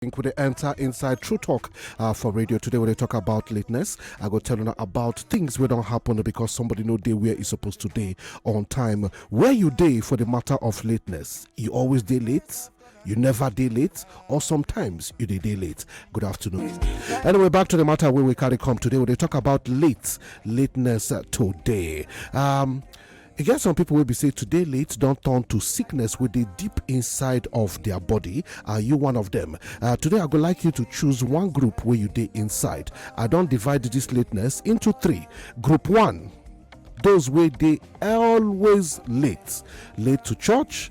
think we enter inside True Talk uh, for radio. Today, when they talk about lateness, I go tell you about things we don't happen because somebody know day where is supposed to day on time. Where you day for the matter of lateness? You always day late? you never day late or sometimes you day day late good afternoon anyway back to the matter where we carry come today we they talk about late lateness uh, today um E get some people wey be say to dey late don turn to sickness wey dey deep inside of their body. Are you one of them? Uh, today I go like you to choose one group where you dey inside. I don divide this lateness into three. Group one, those wey dey always late late to church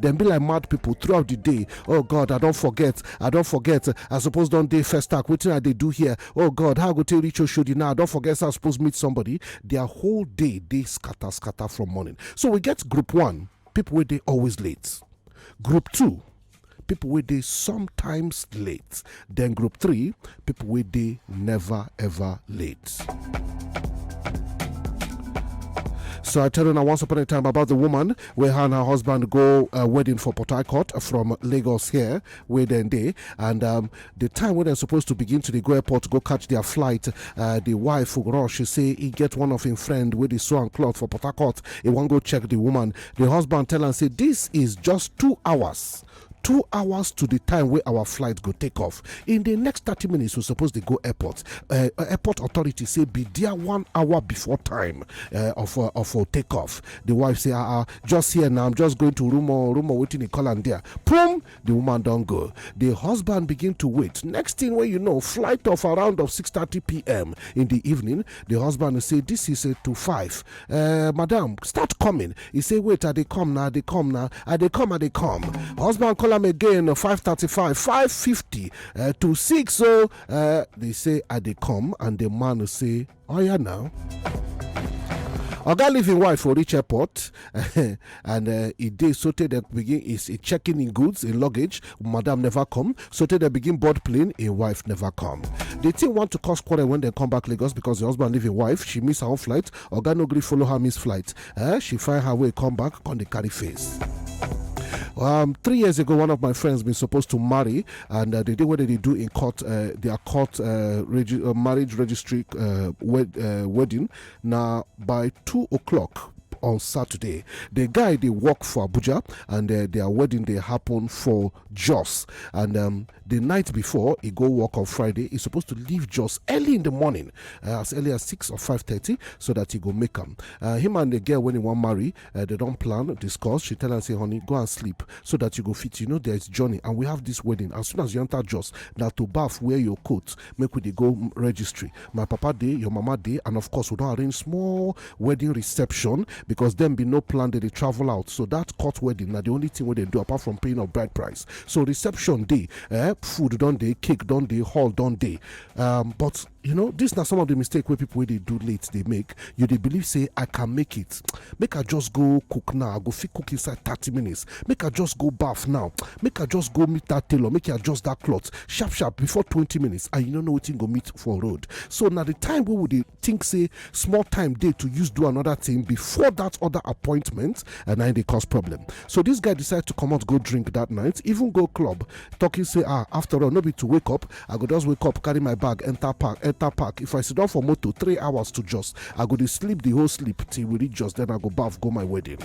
dem be like mad people throughout the day oh god i don't forget i don't forget i suppose don't day first talk wetin i they do here oh god how go take reach oshodi now i don't forget i suppose meet somebody their whole day they scatter scatter from morning so we get group one people where they always late group two people where they sometimes late Then group three, people wey dey never ever late. So I tell you now once upon a time about the woman where her and her husband go uh, wedding for Port Harcourt from Lagos here, where then they and um, the time when they're supposed to begin to the go airport go catch their flight, uh, the wife rush she say he get one of him friend with the sew and cloth for Port Harcourt. He won't go check the woman. The husband tell and say this is just two hours two hours to di time wey our flight go take off in di next thirty minutes we suppose dey go airport uh, uh, airport authority say be there one hour before time uh, of uh, of uh, take off the wife say ah uh, just here now i'm just going to room or room or waiting in call and there boom the woman don go the husband begin to wait next thing wey you know flight of around of six thirty pm in the evening the husband say this is a to five eh madam start coming e say wait i dey come na i dey come na i dey come i dey come husband call am again 535 550 eh, to 6 so eh, they say i dey come and the man say oh yeah now oga leave im wife for reach airport and uh, e dey sotey dem begin is e checking in goods in luggage madam never come sotey dem begin board plane im wife never come the thing want to cause quarrel when dem come back lagos because the husband leave im wife she miss her own flight oga no gree follow her miss flight eh she find her way come back come dey carry face. Um, three years ago, one of my friends been supposed to marry, and uh, they did what they do in court, uh, their court uh, regi- uh, marriage registry uh, wed- uh, wedding. Now by two o'clock, on saturday di guy dey work for abuja and eh, their wedding dey happen for jos and um, the night before he go work on friday He's supposed to leave jos early in the morning uh, as early as 6 or 5.30 so that he go make am uh, him and the girl when he wan marry uh, they don't plan discuss she tell am say honey go and sleep so that you go fit you know there is journey and we have this wedding as soon as you enter jos now to baff wear your coat make we dey go registry my papa dey your mama dey and of course we don arrange small wedding reception because dem bin no plan dem dey travel out so that court wedding na the only thing wey dem do apart from paying of bride price so reception dey eh food don dey cake don dey hall don dey um, but you know this na some of the mistake wey people wey dey do late dey make you dey believe say i can make it make i just go cook now i go fit cook inside thirty minutes make i just go baff now make i just go meet that tailor make i adjust that cloth sharp sharp before twenty minutes and you no know wetin go meet for road so na the time wey we dey think say small time dey to use do another thing before that other appointment and na im dey cause problem so this guy decide to comot go drink that night even go club talking say ah after all no be to wake up i go just wake up carry my bag enter park enter park if i sit down for motor three hours to just i go dey sleep the whole sleep till we reach just then i go baff go my wedding.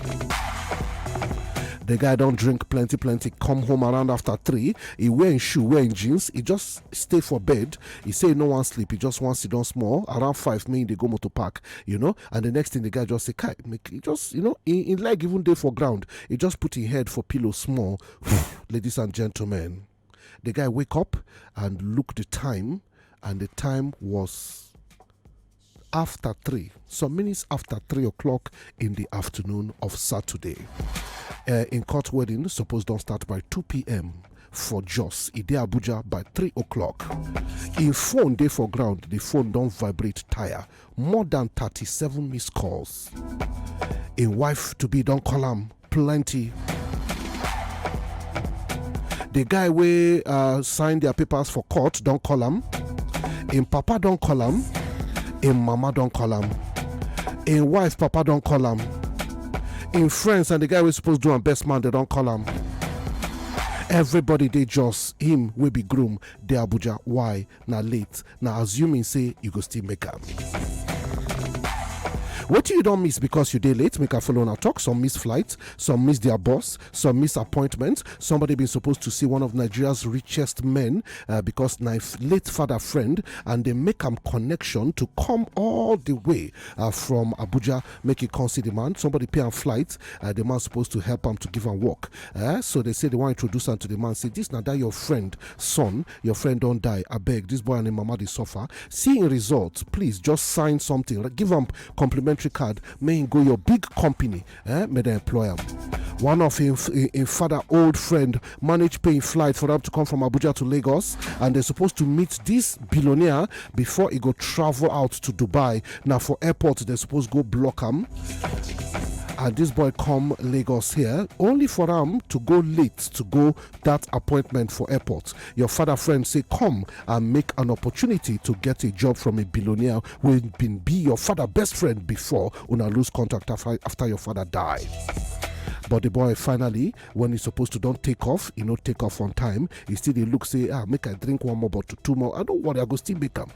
The guy don't drink plenty, plenty. Come home around after three. e wear im shoe wear im jeans e just stay for bed e say e no wan sleep e just wan sit down small around five make e dey go motor park you know and the next thing the guy just say kai make e just you know im leg even dey for ground e just put im head for pillow small ladies and gentlemen the guy wake up and look the time and the time was afta three some minutes afta three o'clock in di afternoon of saturday in court wedding suppose don start by 2pm for jos e dey abuja by 3 o'clock im phone dey for ground di phone don vibrate tire more dan 37 missed calls im wife to be don call am plenty. The guy wey uh, sign their papers for court don call am, im papa don call am, im mama don call am, im wife papa don call am, im friends and the guy wey suppose do am best man dey don call am. Everybody dey just him wey be groom dey Abuja. Why? na late na assuming say you go still make am. What you don't miss because you dey late, make a follow on our talk. Some miss flights, some miss their bus, some miss appointments. Somebody been supposed to see one of Nigeria's richest men uh, because my late father friend and they make a connection to come all the way uh, from Abuja, make it come see the man. Somebody pay a flight, uh, the man supposed to help him to give a walk. Uh, so they say they want to introduce him to the man. Say this now that your friend son your friend don die abeg this boy and im mama dey suffer see im result please just sign something give am complimentary card make im go your big company eh make dem employ am one of im im father old friend manage pay im flight for am to come from abuja to lagos and dem suppose to meet this billionaire before e go travel out to dubai na for airport dem suppose go block am and this boy come lagos here only for am to go late to go dat appointment for airport your father friend say come and make an opportunity to get a job from a billionaire wey bin be your father best friend before una lose contact after your father die but the boy finally when he's supposed to don't take off he not take off on time he still dey look say ah make i drink one more bottle two more i don't worry i go still make am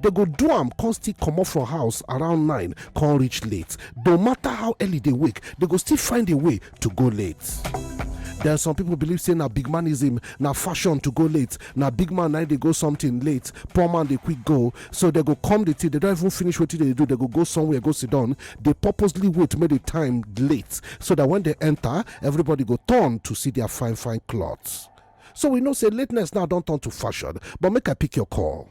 dem go do am come still comot from house around 9 come reach late no matter how early they wake they go still find a way to go late There are some people believe say na big manism na fashion to go late na big man na dey go something late poor man dey quick go so they go come the thing they don't even finish wetin they do they go go somewhere go sit down they purposely wait make the time late so that when they enter everybody go turn to see their fine fine clothes so we know say lateness now don turn to fashion but make i pick your call.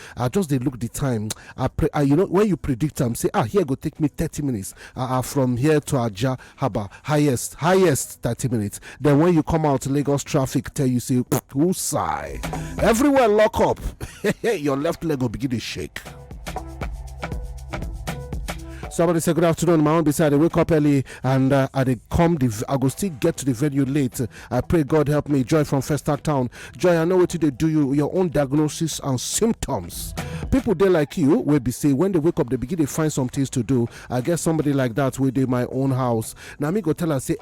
I just dey look the time. I pre I, you know when you predict am say ah here go take me thirty minutes ah ah from here to Ajah haba highest highest thirty minutes. Then when you come out Lagos traffic tell you say who sigh everywhere lock up your left leg go begin dey shake. Somebody say good afternoon. My own beside I wake up early and uh, I dey come. The, I go still get to the venue late. I pray God help me. Joy from First Act Town. Joy, I know what they do you, your own diagnosis and symptoms. People they like you will be say when they wake up, they begin to find some things to do. I guess somebody like that will do my own house. Now me go tell her say,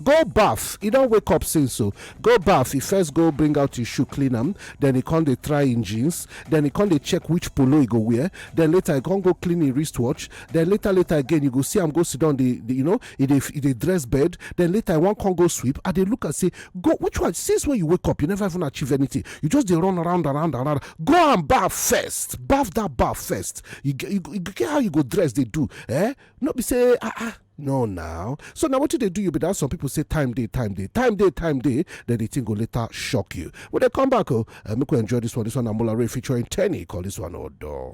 go bath. You don't wake up since so. Go bath. You first go bring out your shoe, clean them. Then he come they try in jeans. Then he come they check which polo you go wear. Then later I can't go clean your wristwatch. Then later later again you go see I'm go sit down the, the you know e dey e dey dress bed then later i wan come go sweep i dey look am say go which one since when you wake up you never even achieve anything you just dey run around around around go and baff first baff that baff first you get you get how you go dress dey do eh no be say ah ah no now so now what do they do you be that some people say time day time day time day time day then the thing go later shock you when they come back oh uh, make we enjoy this one this one amola ray featuring tenny call this one odor.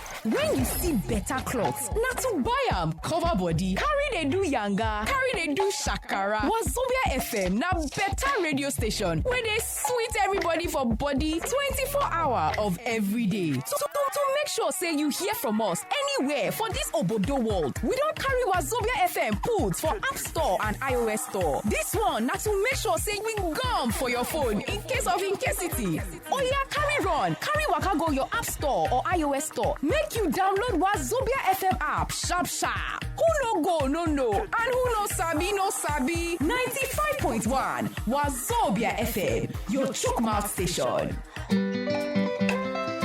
When you see better cloth, na to buy am cover body, carry dey do yanga, carry dey do shakara. Wazobia FM na better radio station wey dey sweet everybody for body 24 hour of every day. To, to, to make sure say you hear from us anywhere for this obodo world, we don carry Wazobia FM put for App Store and iOS Store. This one na to make sure say we gum for your phone in case of incasity. Oya, carry run, carry waka go your app store or iOS store. Make you download Wazobia FM app sharp sharp. Who no go no no, and who no sabi no sabi. 95.1 Wazobia FM, your chook mouth station.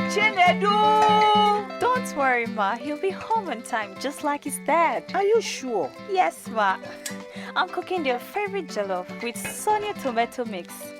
Chinedu! Don't worry, Ma. He'll be home on time, just like his dad. Are you sure? Yes, Ma. I'm cooking their favorite jollof with Sonia tomato mix.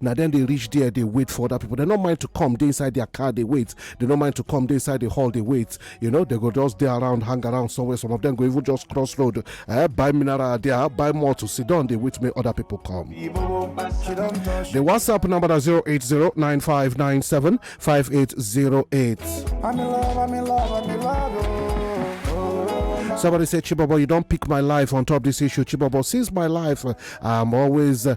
na dem dey reach there dey wait for other people dem no mind to come dey inside their car dey wait dem no mind to come dey inside the hall dey wait you know dem go just dey around hang around somewhere some of them go even just cross road eh, buy mineral there buy more to sit down dey wait make other people come. the whatsapp number na zero eight zero nine five nine seven five eight zero eight. I'm in love, I'm in love, I'm in love. Oh. Somebody said, Chibobo, you don't pick my life on top this issue. Chibobo, since my life, uh, I'm always uh,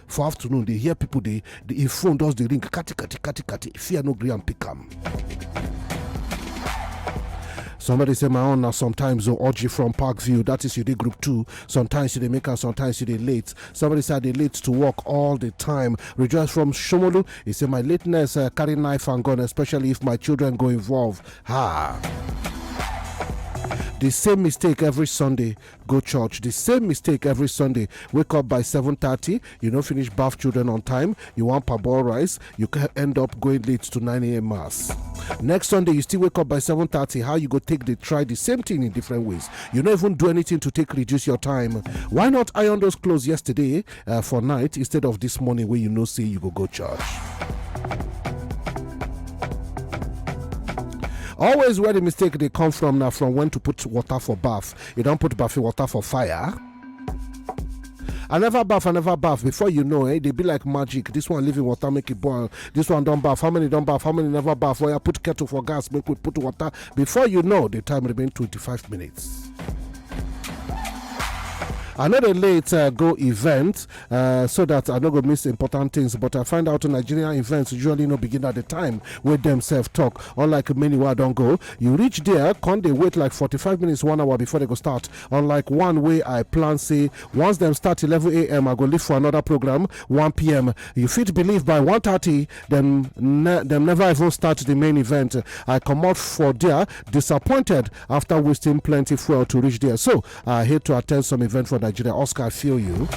for afternoon dey hear people dey the im phone just dey ring kati kati kati kati fear no gree am pick am. Somebody say my own now sometimes or orgy from Parkview. That is you did group two. Sometimes you they make her, sometimes you they late. Somebody said they late to work all the time. Rejoice from Shomolu. He said my lateness uh, carry knife and gun, especially if my children go involved. Ha. The same mistake every Sunday. go church the same mistake every sunday wake up by 7:30 you no finish baff children on time you wan parboil rice you can end up going late to 9am mass next sunday you still wake up by 7:30 how you go take dey try the same thing in different ways you no even do anything to take reduce your time why not iron those clothes yesterday uh, for night instead of this morning wey you know say you go go church always where the mistake dey come from na from when to put water for bath You don put baffy water for fire. I never baff, I never baff. Before you know, eh, they be like magic. This one living water, make it boil. This one don't baff. How many don't baff? How many never baff? Where I put kettle for gas, make we put water. Before you know, the time remain 25 minutes. I know they late uh, go event. uh, so that I no go miss important things. But I find out Nigerian events usually no begin at the time where themselves talk. Unlike many where I don't go, you reach there, can they wait like 45 minutes, one hour before they go start. Unlike one way I plan, say once them start 11 a.m., I go leave for another program 1 p.m. You fit believe by 1:30, them ne- them never even start the main event. I come out for there disappointed after wasting plenty fuel to reach there. So I hate to attend some event for Nigeria. Oscar, I feel you.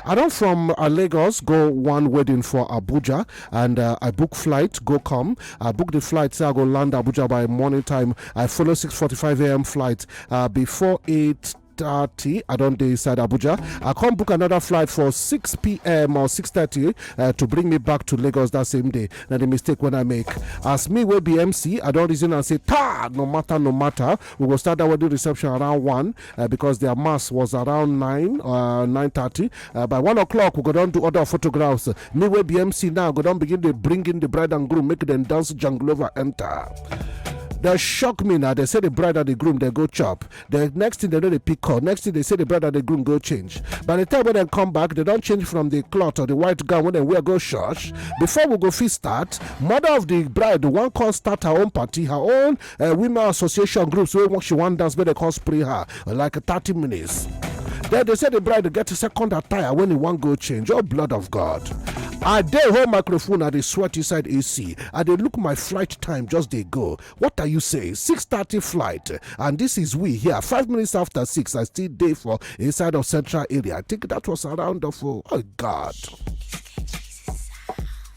I don from uh, Lagos go one wedding for Abuja and uh, I book flight, go come. I book the flight, say I go land Abuja by morning time. I follow 6.45 a.m. flight uh, before 8 8.30 i don dey inside abuja i come book another flight for 6pm or 6.30 uh, to bring me back to lagos that same day na the mistake wey i make as me wey be mc i don reason am say taa no matter no matter We go start that wedding reception around 1 uh, because their mass was around 9, uh, 9.30. Uh, by 1 o'clock, we go down to other photographs. Uh, me with BMC now, go down begin to bring in the bride and groom, make them dance jungle over enter. They shock me now. They say the bride and the groom they go chop. The next thing they know they pick up. Next thing they say the bride and the groom go change. By the time when they come back, they don't change from the cloth or the white gown when they wear go church. Before we go feast start, mother of the bride the one call start her own party, her own uh, women association groups wey she wan dance make dem come spray her like thirty minutes. Then they say the bride go get a second attire when he wan go change. Oh blood of God. I dey hold microphone, I dey sweat inside AC. I dey look my flight time just dey go. What are you saying? 6:30 flight, and this is we here. Five minutes after six, I still dey for inside of central area. I think that was around of oh, oh God.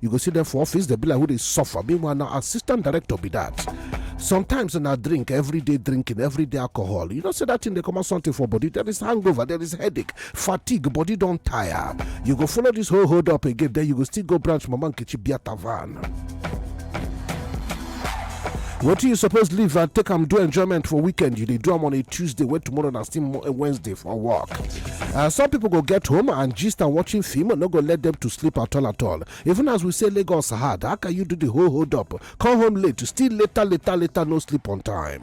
you go see dem for office dem be like who dey suffer meanwhile na assistant director be that sometimes na drink everyday drinking everyday alcohol you know say that thing dey comot something for body there is hangover there is headache fatigue body don tire you go follow this whole hold up again then you go still go branch mama nkechi biata van. wetin you suppose leave and take am do enjoyment for weekend you dey do am on a tuesday wey tomorrow na still Mo- wednesday for work uh, some people go get home and gist and watching film no go let them to sleep at all at all even as we say lagos hard how can you do the whole hold up come home late still later later later no sleep on time.